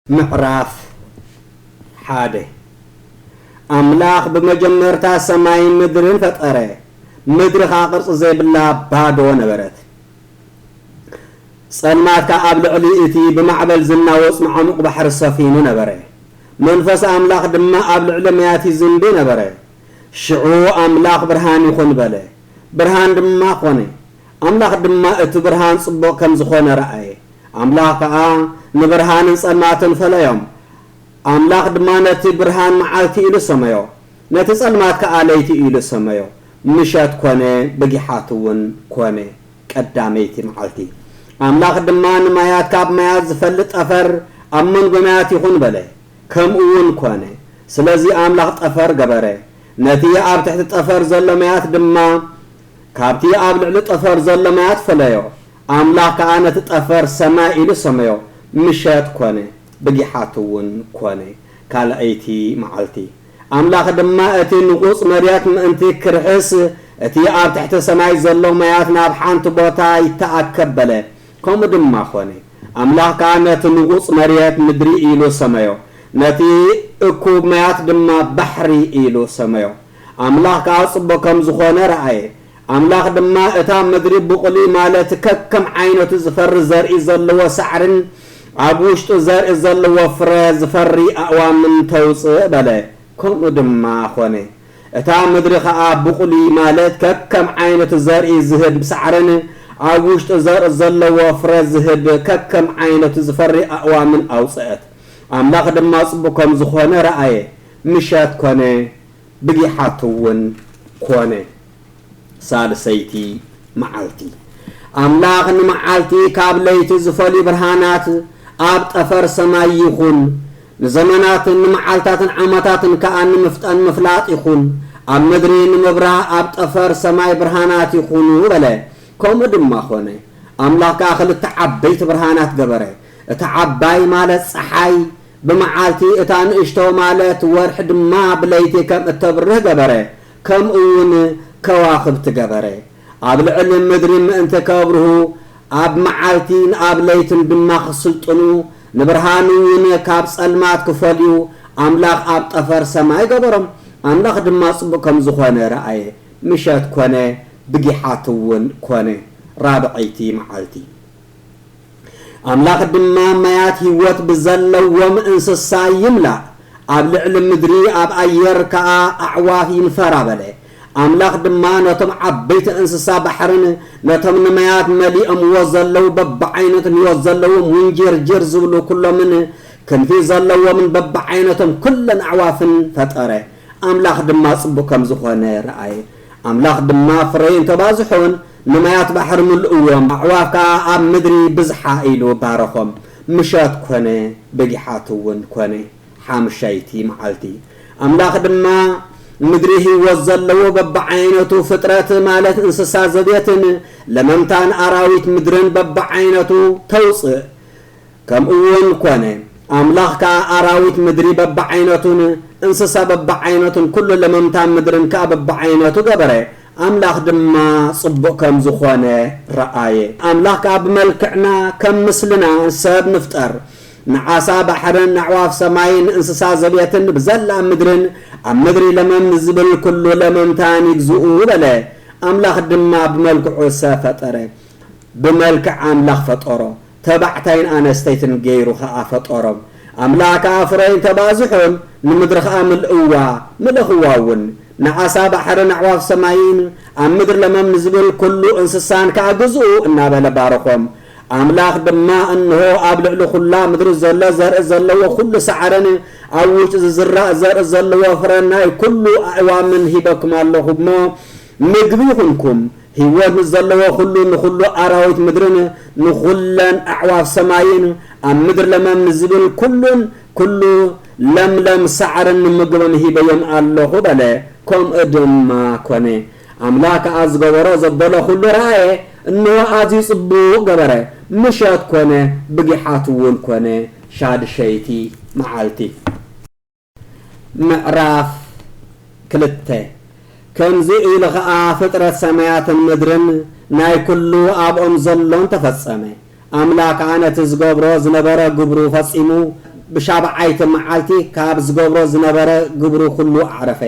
ምዕራፍ ሓደ ኣምላኽ ብመጀመርታ ሰማይን ምድርን ፈጠረ፣ ምድሪ ኸኣ ቅርጺ ዘይብላ ባዶ ነበረት። ጸልማት ከኣ ኣብ ልዕሊ እቲ ብማዕበል ዝናወጽ መዓሙቕ ባሕሪ ሰፊኑ ነበረ፣ መንፈስ ኣምላኽ ድማ ኣብ ልዕሊ ማያት ይዝንቢ ነበረ። ሽዑ ኣምላኽ፣ ብርሃን ይኹን በለ፣ ብርሃን ድማ ኰነ። ኣምላኽ ድማ እቲ ብርሃን ጽቡቕ ከም ዝዀነ ረኣየ፣ ኣምላኽ ከኣ ንብርሃንን ጸልማትን ፈለዮም። ኣምላኽ ድማ ነቲ ብርሃን መዓልቲ ኢሉ ሰመዮ፣ ነቲ ጸልማት ከኣ ለይቲ ኢሉ ሰመዮ። ምሸት ኰነ፣ ብጊሓትውን ኰነ። ቀዳመይቲ መዓልቲ። ኣምላኽ ድማ ንማያት ካብ ማያት ዝፈልጥ ጠፈር ኣብ መንጎ ማያት ይኹን በለ፣ ከምኡውን ኰነ። ስለዚ ኣምላኽ ጠፈር ገበረ፣ ነቲ ኣብ ትሕቲ ጠፈር ዘሎ ማያት ድማ ካብቲ ኣብ ልዕሊ ጠፈር ዘሎ ማያት ፈለዮ። ኣምላኽ ከኣ ነቲ ጠፈር ሰማይ ኢሉ ሰመዮ፣ ምሸት ኰነ፣ ብጊሓትውን ኰነ። ካልኣይቲ መዓልቲ። ኣምላኽ ድማ እቲ ንቑጽ መሬት ምእንቲ ኪርሕስ፣ እቲ ኣብ ትሕቲ ሰማይ ዘሎ ማያት ናብ ሓንቲ ቦታ ይተኣከብ በለ። ከምኡ ድማ ዀነ። ኣምላኽ ከኣ ነቲ ንቑጽ መሬት፣ ምድሪ ኢሉ ሰመዮ። ነቲ እኩብ ማያት ድማ፣ ባሕሪ ኢሉ ሰመዮ። ኣምላኽ ከኣ ጽቡቕ ከም ዝዀነ ረኣየ። ኣምላኽ ድማ እታ ምድሪ ብቝሊ ማለት ከከም ዓይነቱ ዝፈሪ ዘርኢ ዘለዎ ሳዕርን ኣብ ውሽጡ ዘርኢ ዘለዎ ፍረ ዝፈሪ ኣእዋምን ተውጽእ በለ። ከምኡ ድማ ዀነ። እታ ምድሪ ኸኣ ብቝሊ ማለት ከከም ዓይነቱ ዘርኢ ዝህብ ሳዕርን ኣብ ውሽጡ ዘርኢ ዘለዎ ፍረ ዝህብ ከከም ዓይነቱ ዝፈሪ ኣእዋምን ኣውጽአት። ኣምላኽ ድማ ጽቡቕ ከም ዝዀነ ረኣየ። ምሸት ኰነ። ብጊሓት'ውን ኰነ፣ ሳልሰይቲ መዓልቲ። ኣምላኽ ንመዓልቲ ኻብ ለይቲ ዚፈልዩ ብርሃናት ኣብ ጠፈር ሰማይ ይኹን፣ ንዘመናትን ንመዓልታትን ዓመታትን ከኣ ንምፍጠን ምፍላጥ ይኹን፣ ኣብ ምድሪ ንምብራህ ኣብ ጠፈር ሰማይ ብርሃናት ይኹኑ በለ። ከምኡ ድማ ዀነ። ኣምላኽ ከኣ ኽልተ ዓበይቲ ብርሃናት ገበረ። እታ ዓባይ ማለት ጸሓይ ብመዓልቲ እታ ንእሽቶ ማለት ወርሒ ድማ ብለይቲ ከም እተብርህ ገበረ፣ ከምኡውን ከዋኽብቲ ገበረ። ኣብ ልዕሊ ምድሪ ምእንቲ ከብርሁ፣ ኣብ መዓልቲን ኣብ ለይትን ድማ ክስልጥኑ፣ ንብርሃንውን ካብ ጸልማት ክፈልዩ ኣምላኽ ኣብ ጠፈር ሰማይ ገበሮም። ኣምላኽ ድማ ጽቡቕ ከም ዝዀነ ረኣየ፣ ምሸት ኰነ፣ ብጊሓትውን ኰነ፣ ራብዐይቲ መዓልቲ። ኣምላኽ ድማ ማያት ህይወት ብዘለዎም እንስሳ ይምላእ፣ ኣብ ልዕሊ ምድሪ ኣብ ኣየር ከኣ ኣዕዋፍ ይንፈራ በለ። ኣምላኽ ድማ ነቶም ዓበይቲ እንስሳ ባሕርን ነቶም ንማያት መሊኦምዎ ዘለዉ በብዓይነቱ ንህይወት ዘለዎም ውንጂርጂር ዝብሉ ኩሎምን ክንፊ ዘለዎምን በብዓይነቶም ኩለን ኣዕዋፍን ፈጠረ። ኣምላኽ ድማ ጽቡቕ ከም ዝኾነ ረኣየ። ኣምላኽ ድማ ፍረዩን ተባዝሑን፣ ንማያት ባሕሪ ምልእዎም፣ ኣዕዋፍ ከኣ ኣብ ምድሪ ይብዝሓ ኢሉ ባረኾም። ምሸት ኰነ፣ በጊሓትውን ኰነ፣ ሓምሸይቲ መዓልቲ። ኣምላኽ ድማ ምድሪ ህይወት ዘለዎ በብዓይነቱ ፍጥረት፣ ማለት እንስሳ ዘቤትን ለመምታን ኣራዊት ምድርን በብዓይነቱ ተውጽእ። ከምኡውን ኮነ፣ ኣምላኽ ከኣ ኣራዊት ምድሪ በብዓይነቱን እንስሳ በብዓይነቱን ኵሉ ለመምታ ምድርን ከኣ በብዓይነቱ ገበረ፣ ኣምላኽ ድማ ጽቡቕ ከም ዝዀነ ረኣየ። ኣምላኽ ከኣ ብመልክዕና ከም ምስልና ሰብ ንፍጠር፣ ንዓሳ ባሕርን ንኣዕዋፍ ሰማይን ንእንስሳ ዘቤትን ብዘላ ምድርን ኣብ ምድሪ ለመም ንዝብል ኵሉ ለመምታን ይግዝኡ በለ። ኣምላኽ ድማ ብመልክዑ ሰብ ፈጠረ፣ ብመልክዕ ኣምላኽ ፈጠሮ። ተባዕታይን ኣነስተይትን ገይሩ ኸኣ ፈጠሮም። ኣምላኽ ከኣ ፍረዩን ተባዝሑን፣ ንምድሪ ኸኣ ምልእዋ፣ ምለኹዋ እውን። ንዓሳ ባሕርን ኣዕዋፍ ሰማይን፣ ኣብ ምድሪ ለመም ንዚብል ኵሉ እንስሳን ከኣ ግዝኡ እናበለ ባረኾም። ኣምላኽ ድማ፣ እንሆ፣ ኣብ ልዕሊ ዅላ ምድሪ ዘሎ ዘርኢ ዘለዎ ዅሉ ሳዕርን ኣብ ውሽጢ ዚዝራእ ዘርኢ ዘለዎ ፍረ ናይ ኵሉ ኣእዋምን ሂበኩም ኣሎኹ እሞ፣ ምግቢ ይኹንኩም፣ ህይወት ንዘለዎ ዅሉ፣ ንዅሉ ኣራዊት ምድርን ንዅለን ኣዕዋፍ ሰማይን፣ ኣብ ምድሪ ለመም ንዚብል ኵሉን ኵሉ ለምለም ሳዕርን ንምግቦም ሂበዮም ኣሎኹ በለ። ከምኡ ድማ ኰነ። ኣምላኽ ከኣ ዝገበሮ ዘበሎ ዅሉ ረኣየ፣ እንሆ፣ ኣዝዩ ጽቡቕ ገበረ። ምሸት ኰነ፣ ብጊሓትውን ኰነ፣ ሻድሸይቲ መዓልቲ። ምዕራፍ ክልተ ከምዚ ኢሉ ኸኣ ፍጥረት ሰማያትን ምድርን ናይ ኵሉ ኣብኦም ዘሎን ተፈጸመ። ኣምላክ ከኣ ነቲ ዝገብሮ ዝነበረ ግብሩ ፈጺሙ ብሻብዓይቲ መዓልቲ ካብ ዝገብሮ ዝነበረ ግብሩ ኵሉ ኣዕረፈ።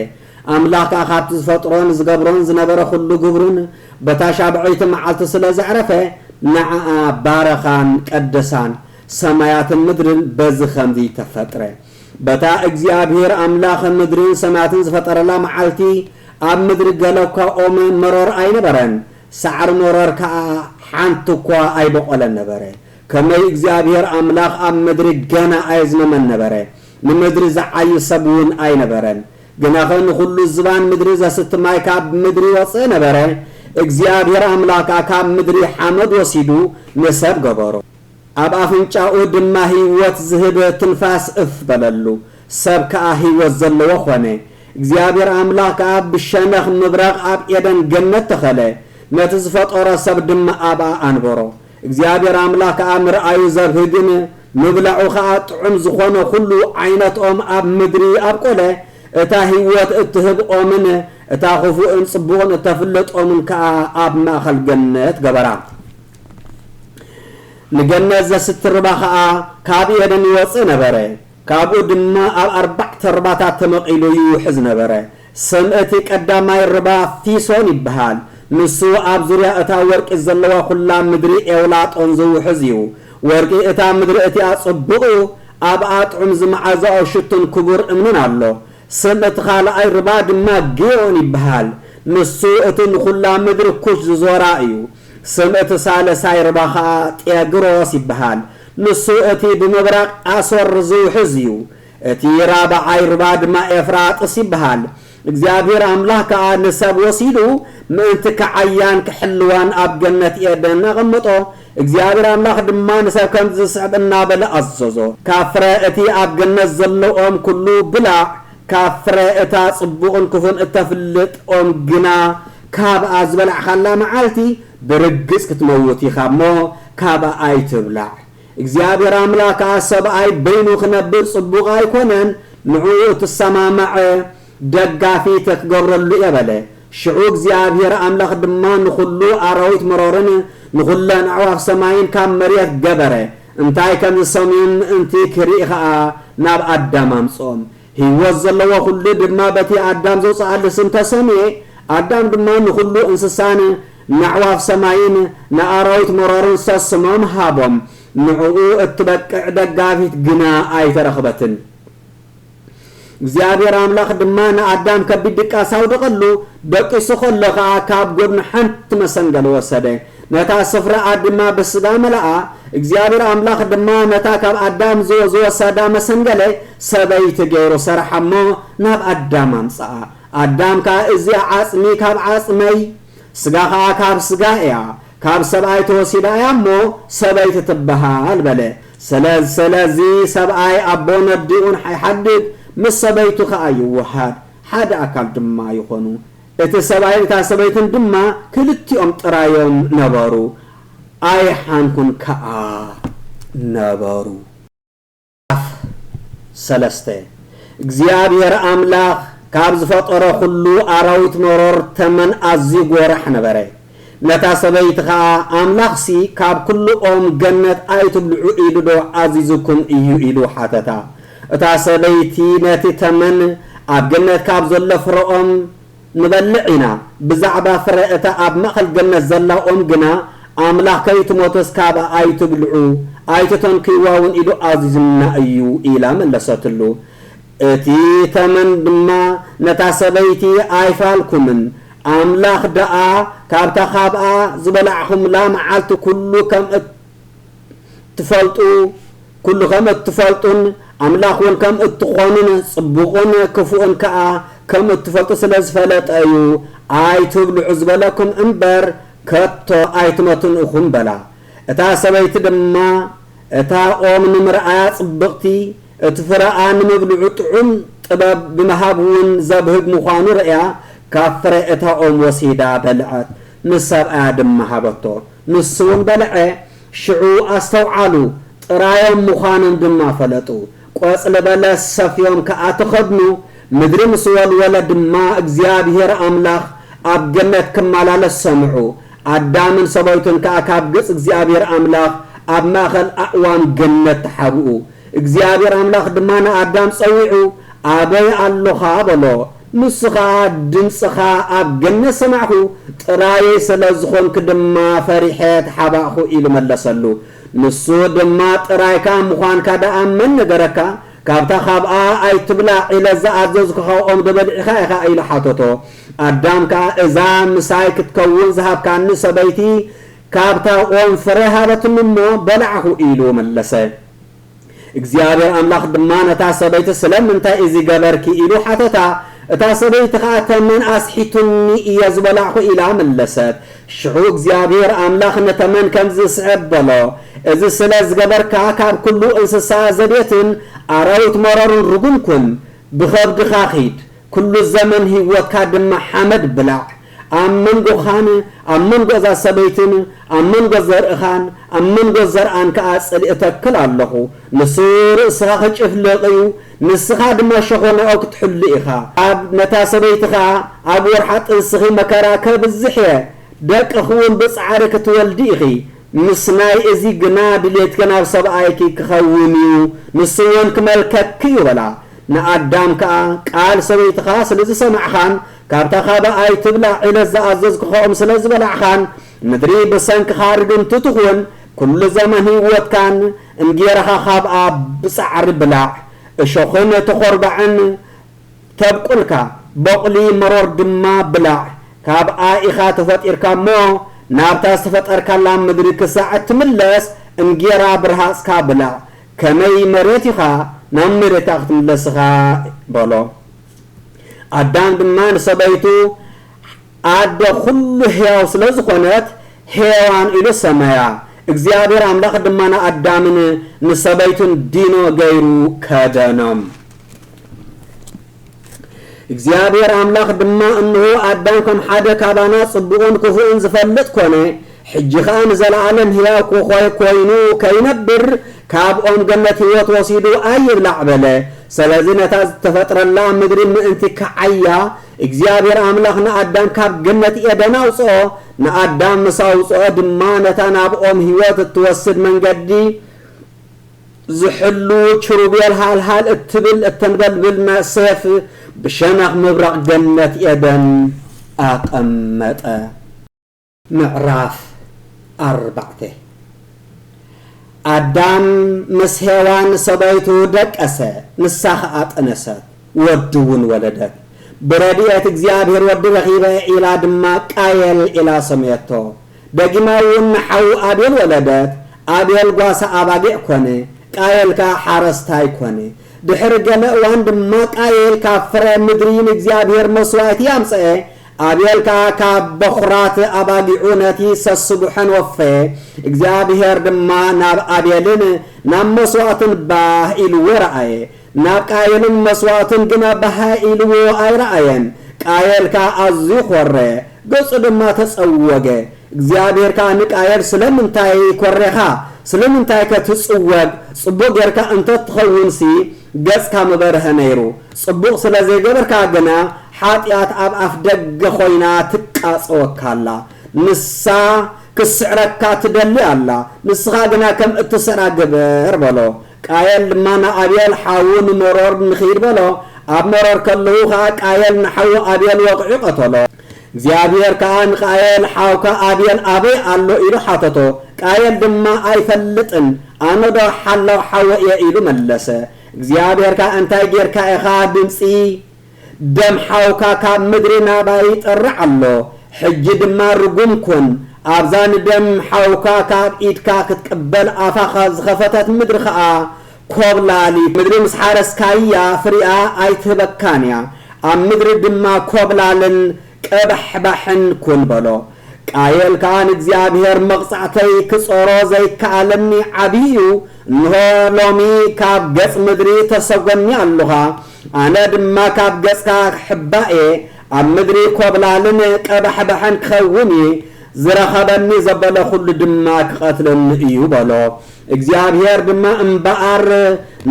ኣምላክ ከኣ ካብቲ ዝፈጥሮን ዝገብሮን ዝነበረ ኵሉ ግብሩን በታ ሻብዐይቲ መዓልቱ ስለ ዘዕረፈ ንዓኣ ባረኻን ቀደሳን። ሰማያትን ምድርን በዚ ኸምዚ ተፈጥረ። በታ እግዚኣብሄር ኣምላኽ ምድርን ሰማያትን ዝፈጠረላ መዓልቲ፣ ኣብ ምድሪ ገለ እኳ ኦም መሮር ኣይነበረን፣ ሳዕሪ መሮር ከኣ ሓንቲ እኳ ኣይበቖለን ነበረ። ከመይ እግዚኣብሄር ኣምላኽ ኣብ ምድሪ ገና ኣየዝመመን ነበረ፣ ንምድሪ ዚዓዪ ሰብውን ኣይነበረን። ግናኸ ንዅሉ ዝባን ምድሪ ዘስቲ ማይ ካብ ምድሪ ይወጽእ ነበረ። እግዚኣብሄር ኣምላኽ ከኣ ካብ ምድሪ ሓመድ ወሲዱ ንሰብ ገበሮ። ኣብ ኣፍንጫኡ ድማ ህይወት ዝህብ ትንፋስ እፍ በለሉ፣ ሰብ ከኣ ህይወት ዘለዎ ዀነ። እግዚኣብሄር ኣምላኽ ከኣ ብሸነኽ ምብራቕ ኣብ ኤደን ገነት ተኸለ፣ ነቲ ዝፈጠሮ ሰብ ድማ ኣብኣ ኣንበሮ። እግዚኣብሄር ኣምላኽ ከኣ ምርኣዩ ዘብህግን ምብላዑ ኸኣ ጥዑም ዝዀነ ዅሉ ዓይነት ኦም ኣብ ምድሪ ኣብቈለ፣ እታ ህይወት እትህብ ኦምን እታ ኽፉእን ጽቡቕን እተፍልጥ ኦምን ከኣ ኣብ ማእከል ገነት ገበራ። ንገነት ዘስትርባ ከኣ ካብ ኤደን ይወጽእ ነበረ፣ ካብኡ ድማ ኣብ ኣርባዕተ ርባታት ተመቒሉ ይውሕዝ ነበረ። ስም እቲ ቀዳማይ ርባ ፊሶን ይብሃል፣ ንሱ ኣብ ዙርያ እታ ወርቂ ዘለዋ ዅላ ምድሪ ኤውላጦን ዝውሕዝ እዩ። ወርቂ እታ ምድሪ እቲኣ ጽቡቕ እዩ፣ ኣብኣ ጥዑም ዝመዓዛኦ ሽቱን ክቡር እምንን ኣሎ። ስም እቲ ኻልኣይ ርባ ድማ ግዮን ይብሃል፣ ንሱ እቲ ንዅላ ምድሪ ኩሽ ዝዞራ እዩ። ስም እቲ ሳልሳይ ሩባ ኸኣ ጤግሮስ ይበሃል። ንሱ እቲ ብምብራቕ ኣሶር ዝውሕዝ እዩ። እቲ ራብዓይ ሩባ ድማ ኤፍራጥስ ይበሃል። እግዚኣብሄር ኣምላኽ ከኣ ንሰብ ወሲዱ ምእንቲ ክዓያን ክሕልዋን ኣብ ገነት ኤደን ኣቐመጦ። እግዚኣብሄር ኣምላኽ ድማ ንሰብ ከምዚ ዝስዕብ እናበለ ኣዘዞ። ካብ ፍረ እቲ ኣብ ገነት ዘሎ ኦም ኩሉ ብላዕ፣ ካብ ፍረ እታ ጽቡቕን ክፉን እተፍልጥ ኦም ግና ካብኣ ዝበላዕካላ መዓልቲ ብርግጽ ክትመውት ኢኻ እሞ ካብኣ ኣይትብላዕ። እግዚኣብሄር ኣምላኽ ከኣ ሰብኣይ በይኑ ክነብር ጽቡቕ ኣይኮነን፣ ንዕኡ እትሰማማዕ ደጋፊት ክገብረሉ እየ በለ። ሽዑ እግዚኣብሄር ኣምላኽ ድማ ንኹሉ ኣራዊት መሮርን ንኹለን ኣዕዋፍ ሰማይን ካብ መሬት ገበረ፣ እንታይ ከም ዝሰምዩን ምእንቲ ክርኢ ኸኣ ናብ ኣዳም ኣምጽኦም። ህይወት ዘለዎ ዅሉ ድማ በቲ ኣዳም ዘውጽኣሉ ስም ተሰምየ፣ ኣዳም ድማ ንዅሉ እንስሳን ነዕዋፍ ሰማይን ንኣራዊት መሮርን ሰስሞም ሃቦም፣ ንዕኡ እትበቅዕ ደጋፊት ግና ኣይተረኽበትን። እግዚኣብሄር ኣምላኽ ድማ ንኣዳም ከቢድ ድቃስ ኣውደቐሉ፣ ደቂሱ ኸሎ ኸኣ ካብ ጐድኑ ሓንቲ መሰንገሊ ወሰደ፣ ነታ ስፍራኣ ድማ ብስጋ መለኣ፣ እግዚኣብሄር ኣምላኽ ድማ ነታ ካብ ኣዳም ዝወሰዳ መሰንገለ ሰበይቲ ገይሩ ሰርሓ እሞ ናብ ኣዳም ኣምጽኣ። ኣዳም ከኣ እዚኣ ዓጽሚ ካብ ዓጽመይ ስጋ ከኣ ካብ ስጋይ እያ፣ ካብ ሰብኣይ ተወሲዳ እያ እሞ ሰበይቲ ትበሃል በለ። ስለዚ ሰብኣይ ኣቦን ኣዲኡን ይሓድግ፣ ምስ ሰበይቱ ከኣ ይወሃድ፣ ሓደ ኣካል ድማ ይኾኑ። እቲ ሰብኣይን እታ ሰበይትን ድማ ክልቲኦም ጥራዮም ነበሩ፣ ኣይሓንኩን ከኣ ነበሩ። ኣፍ ሰለስተ፣ እግዚኣብሄር ኣምላኽ ካብ ዝፈጠሮ ዅሉ ኣራዊት መሮር ተመን ኣዝዩ ጐራሕ ነበረ። ነታ ሰበይቲ ኸኣ፣ ኣምላኽሲ ካብ ኵሉ ኦም ገነት ኣይትብልዑ ኢሉዶ ኣዚዙኩም እዩ? ኢሉ ሓተታ። እታ ሰበይቲ ነቲ ተመን፣ ኣብ ገነት ካብ ዘሎ ፍረ ኦም ንበልዕ ኢና፣ ብዛዕባ ፍረ እታ ኣብ ማእከል ገነት ዘላ ኦም ግና፣ ኣምላኽ ከይትሞትስ ካብኣ ኣይትብልዑ፣ ኣይትተንክይዋውን ኢሉ ኣዚዙና እዩ ኢላ መለሰትሉ። እቲ ተመን ድማ ነታ ሰበይቲ ኣይፋልኩምን፣ ኣምላኽ ደኣ ካብታ ኻብኣ ዝበላዕኹምላ መዓልቲ ኵሉ ኸም እትፈልጡ፣ ኵሉ ኸም እትፈልጡን ኣምላኽውን ከም እትዀኑን ጽቡቕን ክፉእን ከኣ ከም እትፈልጡ ስለ ዝፈለጠ እዩ፣ ኣይትብልዑ ዝበለኩም እምበር፣ ከቶ ኣይትመቱን ኢኹም በላ። እታ ሰበይቲ ድማ እታ ኦም ንምርኣያ ጽብቕቲ፣ እቲ ፍረኣ ንምብልዑ ጥዑም ጥበብ ብምሃብ'ውን ዘብህግ ምዃኑ ርእያ ካብ ፍረ እታ ኦም ወሲዳ በልዐት፣ ምስ ሰብኣያ ድማ ሃበቶ። ንሱ'ውን በልዐ። ሽዑ ኣስተውዓሉ፣ ጥራዮም ምዃኖም ድማ ፈለጡ። ቈጽሊ በለስ ሰፍዮም ከኣ ተኸድኑ፣ ምድሪ ምስ ወልወለ ድማ እግዚኣብሄር ኣምላኽ ኣብ ገነት ክመላለስ ሰምዑ። ኣዳምን ሰበይቱን ከኣ ካብ ገጽ እግዚኣብሄር ኣምላኽ ኣብ ማእከል ኣእዋም ገነት ተሓብኡ። እግዚኣብሄር ኣምላኽ ድማ ንኣዳም ጸዊዑ፣ ኣበይ ኣሎኻ? በሎ። ንሱ ኸኣ፣ ድምጽኻ ኣብ ገነት ሰማዕኩ፣ ጥራየይ ስለ ዝዀንኩ ድማ ፈሪሐ ተሓባእኩ ኢሉ መለሰሉ። ንሱ ድማ ጥራይካ ምዃንካ ደኣ መን ነገረካ? ካብታ ኻብኣ ኣይትብላዕ ኢለ ዝኣዘዝኩኻ ኦም ዶ በሊዕኻ ኢኻ? ኢሉ ሓተቶ። ኣዳም ከኣ፣ እዛ ምሳይ ክትከውን ዝሃብካኒ ሰበይቲ፣ ካብታ ኦም ፍረ ሃበትኒ እሞ፣ በላዕኩ ኢሉ መለሰ። እግዚኣብሔር ኣምላኽ ድማ ነታ ሰበይቲ ስለምንታይ እዚ ገበርኪ ኢሉ ሓተታ። እታ ሰበይቲ ኸኣ ተመን ኣስሒቱኒ እየ ዝበላዕኹ ኢላ መለሰት። ሽዑ እግዚኣብሔር ኣምላኽ ንተመን ከምዚ ዝስዕብ በሎ፣ እዚ ስለ ዝገበርካ ካብ ኩሉ እንስሳ ዘቤትን ኣራዊት መረሩን ርጉም ኩን። ብኸብድኻ ኺድ፣ ኩሉ ዘመን ህይወትካ ድማ ሓመድ ብላዕ፣ ኣብ መንጎኻን ኣብ መንጎ እዛ ሰበይትን ኣብ መንጎ ዘርእኻን ኣብ መንጎ ዘርኣን ከኣ ጽልኢ እተክል ኣሎኹ፣ ንሱ ርእስኻ ኺጭፍልቕ እዩ፣ ንስኻ ድማ ሸኾናኡ ክትሕሉ ኢኻ። ኣብ ነታ ሰበይቲ ኸኣ፣ ኣብ ወርሓ ጥንስኺ መከራ ከብዝሕ እየ፣ ደቅኺውን ብጻዕሪ ክትወልዲ ኢኺ፣ ምስናይ እዚ ግና ድሌትኪ ናብ ሰብኣይኪ ኪኸውን እዩ፣ ንሱውን ኪመልከኪ እዩ በላ። ንኣዳም ከኣ፣ ቃል ሰበይትኻ ስለ ዝሰማዕኻን ካብታ ካብ ኣይትብላዕ ዒለት ዝኣዘዝኩኻኦም ስለ ዝበላዕኻን፣ ምድሪ ብሰንክኻ ርግምቲ ትኹን፣ ኵሉ ዘመን ህይወትካን እንጌራኻ ኻብኣ ብጻዕሪ ብላዕ፣ እሾኽን ተዀርባዕን ተብቍልካ፣ ቦቝሊ መሮር ድማ ብላዕ፣ ካብኣ ኢኻ ተፈጢርካ እሞ፣ ናብታ ዝተፈጠርካላ ምድሪ ክሳዕ እትምለስ፣ እንጌራ ብረሃጽካ ብላዕ፣ ከመይ መሬት ኢኻ ናብ መሬታ ክትምለስ ኢኻ በሎ። ኣዳም ድማ ንሰበይቱ ኣደ ዅሉ ህያው ስለ ዝዀነት ሄዋን ኢሉ ሰመያ። እግዚኣብሄር ኣምላኽ ድማ ንኣዳምን ንሰበይቱን ዲኖ ገይሩ ከደኖም። እግዚኣብሄር ኣምላኽ ድማ እንሆ ኣዳም ከም ሓደ ካባና ጽቡቕን ክፉእን ዝፈልጥ ኮነ፣ ሕጂ ኸኣ ንዘለኣለም ህያው ክኾይ ኮይኑ ከይነብር ካብ ኦም ገነት ህይወት ወሲዱ ኣይብላዕ በለ። ሰለዚ ነታ ዝተፈጥረላ ምድሪ ምእንቲ ክዓያ እግዚኣብሄር ኣምላኽ ንኣዳም ካብ ገነት ኤደን ኣውጽኦ፣ ንኣዳም ምስ ኣውጽኦ ድማ ነታ ናብ ኦም ህይወት እትወስድ መንገዲ ዝሕሉ ኪሩቤል ሃልሃል እትብል እተንበልብል መእሰፍ ብሸነኽ ምብራቕ ገነት ኤደን ኣቐመጠ። ምዕራፍ ኣርባዕተ ኣዳም ምስ ሄዋን ሰበይቱ ደቀሰ፣ ንሳ ኸኣ ጠነሰት፣ ወዲውን ወለደት። ብረድኤት እግዚኣብሄር ወዲ ረኺበ ኢላ ድማ ቃየል ኢላ ሰመየቶ። ደጊማ እውን ንሓዉ ኣቤል ወለደት፣ ኣቤል ጓሳ ኣባጊዕ ኰነ፣ ቃየል ከኣ ሓረስታይ ኰነ። ድሕሪ ገለ እዋን ድማ ቃየል ካብ ፍረ ምድሪ ንእግዚኣብሄር መስዋእቲ ኣምጽአ፣ ኣቤል ከኣ ካብ በዅራት ኣባጊዑ ነቲ ሰስቡሐን ወፈየ። እግዚኣብሄር ድማ ናብ ኣቤልን ናብ መስዋእቱን ባህ ኢልዎ ረኣየ። ናብ ቃየልን መስዋእቱን ግና ብሃእ ኢልዎ ኣይረኣየን። ቃየል ከኣ ኣዝዩ ዀረ፣ ገጹ ድማ ተጸወገ። እግዚኣብሄር ከኣ ንቃየል ስለምንታይ ኰሬኻ? ስለምንታይከ ትጽወግ? ጽቡቕ ጌርካ እንተ ትኸውንሲ ገጽካ ምበርሀ ነይሩ። ጽቡቕ ስለ ዘይገበርካ ግና ሓጢኣት ኣብ ኣፍደገ ዀይና ትቃጸወካ ኣላ። ንሳ ኽትስዕረካ ትደሊ ኣላ፣ ንስኻ ግና ከም እትስዕራ ግበር በሎ። ቃየል ድማ ንኣቤል ሓዉ ንመሮር ንኺድ በሎ፣ ኣብ መሮር ከለዉ ኸኣ ቃየል ንሓዉ ኣቤል ወቒዑ ቐተሎ። እግዚኣብሄር ከኣ ንቃየል ሓውካ ኣቤል ኣበይ ኣሎ? ኢሉ ሓተቶ። ቃየል ድማ ኣይፈልጥን፣ ኣነዶ ሓላው ሓወ እየ ኢሉ መለሰ። እግዚኣብሄር ከኣ እንታይ ጌርካ ኢኻ ድምጺ ደም ሓውካ ካብ ምድሪ ናባይ ይጠርዕ ኣሎ፣ ሕጂ ድማ ርጉም ኩን፣ ኣብዛ ንደም ሓውካ ካብ ኢድካ ክትቅበል ኣፋኻ ዝኸፈተት ምድሪ ኸኣ ኰብላሊት ምድሪ ምስ ሓረስካያ ፍሪኣ ኣይትህበካን እያ፣ ኣብ ምድሪ ድማ ኰብላልን ቀባሕባሕን ኩን በሎ። ቃየል ከኣ ንእግዚኣብሄር መቕጻዕተይ ክጾሮ ዘይከኣለኒ ዓቢ እዩ፣ እንሆ ሎሚ ካብ ገጽ ምድሪ ተሰጎኒ ኣሎኻ፣ ኣነ ድማ ካብ ገጽካ ክሕባእ እየ፣ ኣብ ምድሪ ኮብላልን ቀባሕባሕን ክኸውን እየ፣ ዝረኸበኒ ዘበለ ኩሉ ድማ ክቐትለኒ እዩ በሎ። እግዚኣብሄር ድማ እምበኣር፣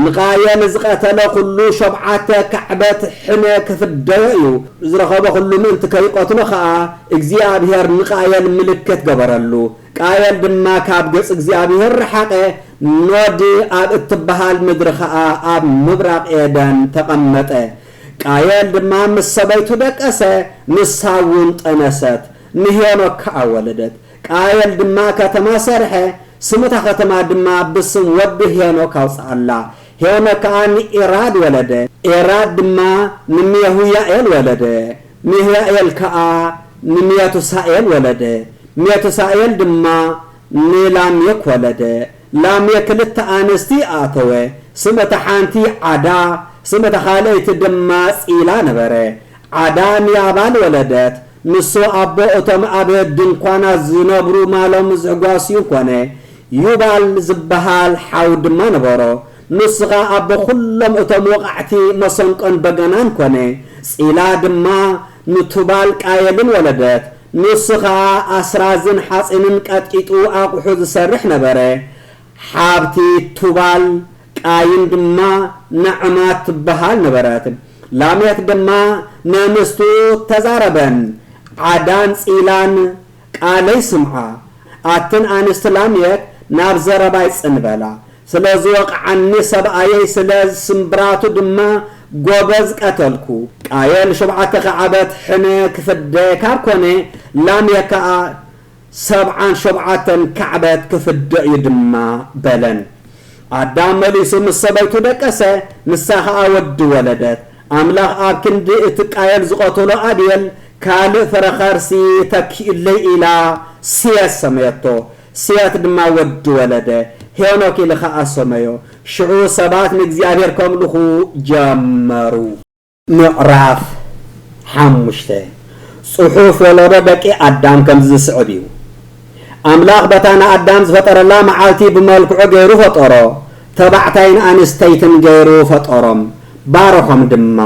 ንቃየል ዝቐተለ ዅሉ ሾብዓተ ካዕበት ሕነ ኺፍደዮ እዩ። ዝረኸቦ ዅሉ ምእንቲ ከይቀትሎ ኸኣ፣ እግዚኣብሄር ንቃየል ምልክት ገበረሉ። ቃየል ድማ ካብ ገጽ እግዚኣብሄር ረሓቐ፣ ኖድ ኣብ እትበሃል ምድሪ ኸኣ ኣብ ምብራቕ ኤደን ተቐመጠ። ቃየል ድማ ምስ ሰበይቱ ደቀሰ፣ ንሳውን ጠነሰት፣ ንሄኖክ ከኣ ወለደት። ቃየል ድማ ከተማ ሰርሐ፣ ስም እታ ኸተማ ድማ ብስም ወዱ ሄኖክ ኣውጽኣላ። ሄኖክ ከኣ ንኤራድ ወለደ፣ ኤራድ ድማ ንሜሁያኤል ወለደ፣ ሜሁያኤል ከኣ ንሜቱሳኤል ወለደ፣ ሜቱሳኤል ድማ ንላሜክ ወለደ። ላሜክ ክልተ ኣንስቲ ኣእተወ፣ ስም እታ ሓንቲ ዓዳ፣ ስም እታ ኻልኣይቲ ድማ ጺላ ነበረ። ዓዳ ንያባል ወለደት፣ ንሱ ኣቦ እቶም ኣብ ድንኳናት ዚነብሩ ማሎም ዚሕጓስዩ ኰነ። ዩባል ዚብሃል ሓው ድማ ነበሮ። ንሱ ኸኣ ኣቦ ዅሎም እቶም ወቓዕቲ መሰንቆን በገናን ኰነ። ጺላ ድማ ንቱባል-ቃየልን ወለደት። ንሱ ኸኣ ኣስራዝን ሓጺንን ቀጥቂጡ ኣቝሑ ዚሰርሕ ነበረ። ሓብቲ ቱባል፣ ቃይን ድማ ናዕማ ትበሃል ነበረት። ላሜክ ድማ ነምስቱ ተዛረበን፣ ዓዳን ጺላን ቃለይ ስምዓ። ኣትን ኣንስቲ ላሜክ ናብ ዘረባይ ጽን በላ። ስለ ዝወቕዓኒ ሰብኣየይ ስለ ስምብራቱ ድማ ጎበዝ ቀተልኩ። ቃየል ሾብዓተ ክዓበት ሕነ ክፍደ ካብ ኮነ፣ ላሜክ ከኣ ሰብዓን ሾብዓተን ካዕበት ክፍደ እዩ ድማ በለን። ኣዳም መሊሱ ምስ ሰበይቱ ደቀሰ፣ ንሳ ኸኣ ወዲ ወለደት። ኣምላኽ ኣብ ክንዲ እቲ ቃየል ዝቐተሎ ኣቤል ካልእ ፍረ ኸርሲ ተኪኡለይ ኢላ ሴት ሰመየቶ። ሴት ድማ ወዲ ወለደ፣ ሄኖክ ኢሉ ኸኣ ሰመዮ። ሽዑ ሰባት ንእግዚኣብሄር ከምልኹ ጀመሩ። ምዕራፍ ሓሙሽተ፣ ጽሑፍ ወለዶ ደቂ ኣዳም ከምዚ ዝስዕብ እዩ። ኣምላኽ በታ ንኣዳም ዝፈጠረላ መዓልቲ ብመልክዑ ገይሩ ፈጠሮ፣ ተባዕታይን ኣንስተይትን ገይሩ ፈጠሮም፣ ባረኾም ድማ።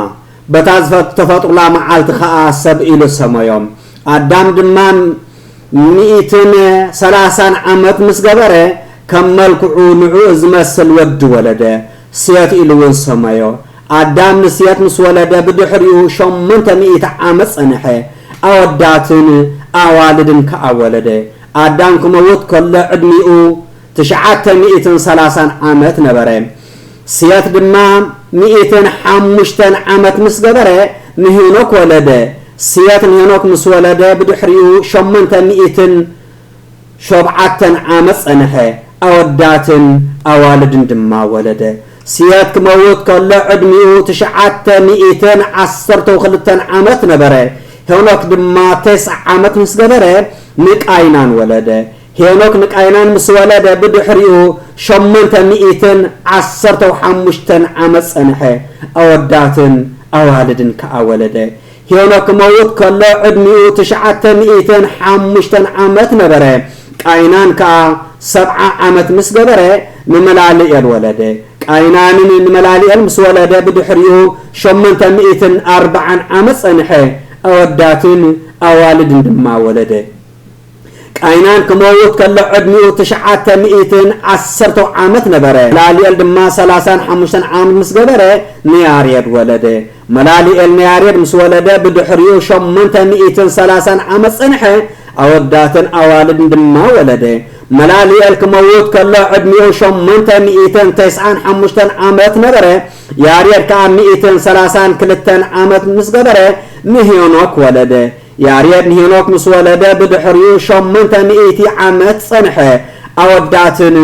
በታ ዝተፈጥሩላ መዓልቲ ኸኣ ሰብ ኢሉ ሰመዮም። ኣዳም ድማ ሚእትን ሰላሳን ዓመት ምስ ገበረ፣ ከም መልክዑ ንዕኡ ዝመስል ወዲ ወለደ፣ ሴት ኢሉውን ሰመዮ። ኣዳም ንሴት ምስ ወለደ ብድሕሪኡ ሸሞንተ ሚእቲ ዓመት ጸንሐ፣ ኣወዳትን ኣዋልድን ከኣ ወለደ። ኣዳም ክመውት ከሎ ዕድሚኡ ትሽዓተ ሚእትን ሰላሳን ዓመት ነበረ። ሴት ድማ ሚእትን ሓሙሽተን ዓመት ምስ ገበረ ንሄኖክ ወለደ። ሴት ንሄኖክ ምስ ወለደ ብድሕሪኡ ሸሞንተ ሚእትን ሾብዓተ ዓመት ጸንሐ፣ ኣወዳትን ኣዋልድን ድማ ወለደ። ስያድ ክመውት ከሎ ዕድሚኡ ትሽዓተ ሚእትን ዓሰርተው ክልተን ዓመት ነበረ። ሄኖክ ድማ ቴስዓ ዓመት ምስ ገበረ ንቃይናን ወለደ። ሄኖክ ንቃይናን ምስ ወለደ ብድሕሪኡ ሸሞንተ ሚእትን ዓሰርተው ሓሙሽተን ዓመት ጸንሐ፣ ኣወዳትን ኣዋልድን ከኣ ወለደ። ሄኖክ ክመውት ከሎ ዕድሚኡ ትሽዓተ ሚእትን ሓሙሽተን ዓመት ነበረ፣ ቃይናን ከኣ ሰብዓ ዓመት ምስ ገበረ ንመላልኤል ወለደ። ቃይናንን ንመላልኤል ምስ ወለደ ብድሕሪኡ ሸሞንተ ሚእትን ኣርብዓን ዓመት ጸንሐ፣ ኣወዳትን ኣዋልድን ድማ ወለደ። ቃይናን ክመውት ከሎ ዕድሚኡ ትሽዓተ ሚእትን ዓሰርተው ዓመት ነበረ። መላልኤል ድማ ሰላሳን ሓሙሽተን ዓመት ምስ ገበረ ንያሬድ ወለደ። መላልኤል ንያሬድ ምስ ወለደ ብድሕሪኡ ሸሞንተ ሚእትን ሰላሳን ዓመት ጸንሐ፣ ኣወዳትን ኣዋልድን ድማ ወለደ። መላልኤል ክመውት ከሎ ዕድሚኡ ሸሞንተ ሚእትን ተስዓን ሓሙሽተን ዓመት ነበረ። ያሬድ ከኣ ሚእትን ሰላሳን ክልተን ዓመት ምስ ገበረ ንሄኖክ ወለደ። ያሬድ ንሄኖክ ምስ ወለደ ብድሕሪኡ ሸሞንተ ሚእቲ ዓመት ጸንሐ፣ ኣወዳትን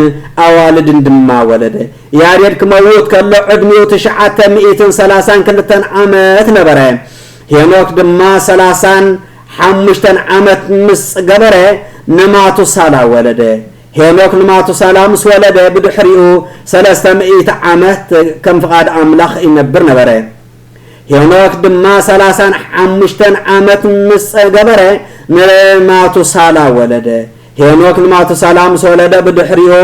ኣዋልድን ድማ ወለደ። ያሬድ ክመውት ከሎ ዕድሚኡ ትሽዓተ ሚእትን ሰላሳን ክልተን ዓመት ነበረ። ሄኖክ ድማ ሰላሳን ሓሙሽተን ዓመት ምስ ገበረ ንማቱሳላ ወለደ። ሄኖክ ንማቱሳላ ምስ ወለደ ብድሕሪኡ ሰለስተ ሚእቲ ዓመት ከም ፍቓድ ኣምላኽ ይነብር ነበረ። ሄኖክ ድማ ሰላሳን ሓሙሽተን ዓመት ምስ ገበረ ንማቱሳላ ወለደ። ሄኖክ ንማቱሳላ ምስ ወለደ ብድሕሪኡ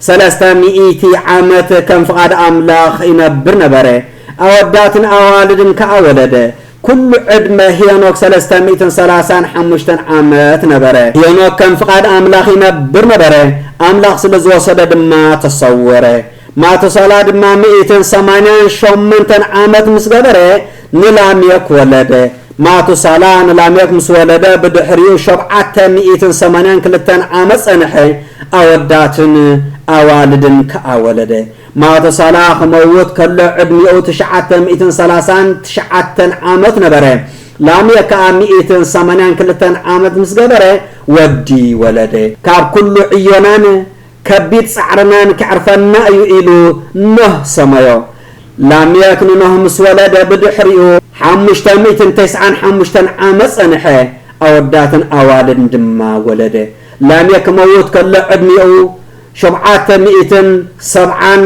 ሰለስተ ሚእቲ ዓመት ከም ፍቓድ ኣምላኽ ይነብር ነበረ። ኣወዳትን ኣዋልድን ከኣ ወለደ። ኩሉ ዕድመ ሄኖክ ሰለስተ ሚእትን ሰላሳን ሓሙሽተን ዓመት ነበረ። ሄኖክ ከም ፍቓድ ኣምላኽ ይነብር ነበረ፣ ኣምላኽ ስለ ዝወሰዶ ድማ ተሰወረ። ማቱሳላ ድማ ሚእትን ሰማንያን ሾመንተን ዓመት ምስ ገበረ ንላሜክ ወለደ። ማቱሳላ ንላሜክ ምስ ወለደ ብድሕሪኡ ሾብዓተ ሚእትን ሰማንያን ክልተን ዓመት ጸንሐ፣ ኣወዳትን ኣዋልድን ከኣ ወለደ። ማቱሳላ ክመውት ከሎ ዕድሚኡ ትሽዓተ ሚእትን ሰላሳን ትሽዓተን ዓመት ነበረ። ላሜክ ከኣ ሚእትን ሰማንያን ክልተን ዓመት ምስ ገበረ ወዲ ወለደ። ካብ ኩሉ ዕዮናን ከቢድ ጻዕርናን ከዕርፈና እዩ ኢሉ ኖህ ሰመዮ። ላሜክ ንኖህ ምስ ወለደ ብድሕሪኡ ሓሙሽተ ሚእትን ተስዓን ሓሙሽተን ዓመት ጸንሐ፣ ኣወዳትን ኣዋልድን ድማ ወለደ። ላሜክ ክመውት ከሎ ዕድሚኡ ሾብዓተ ሚእትን ሰብዓን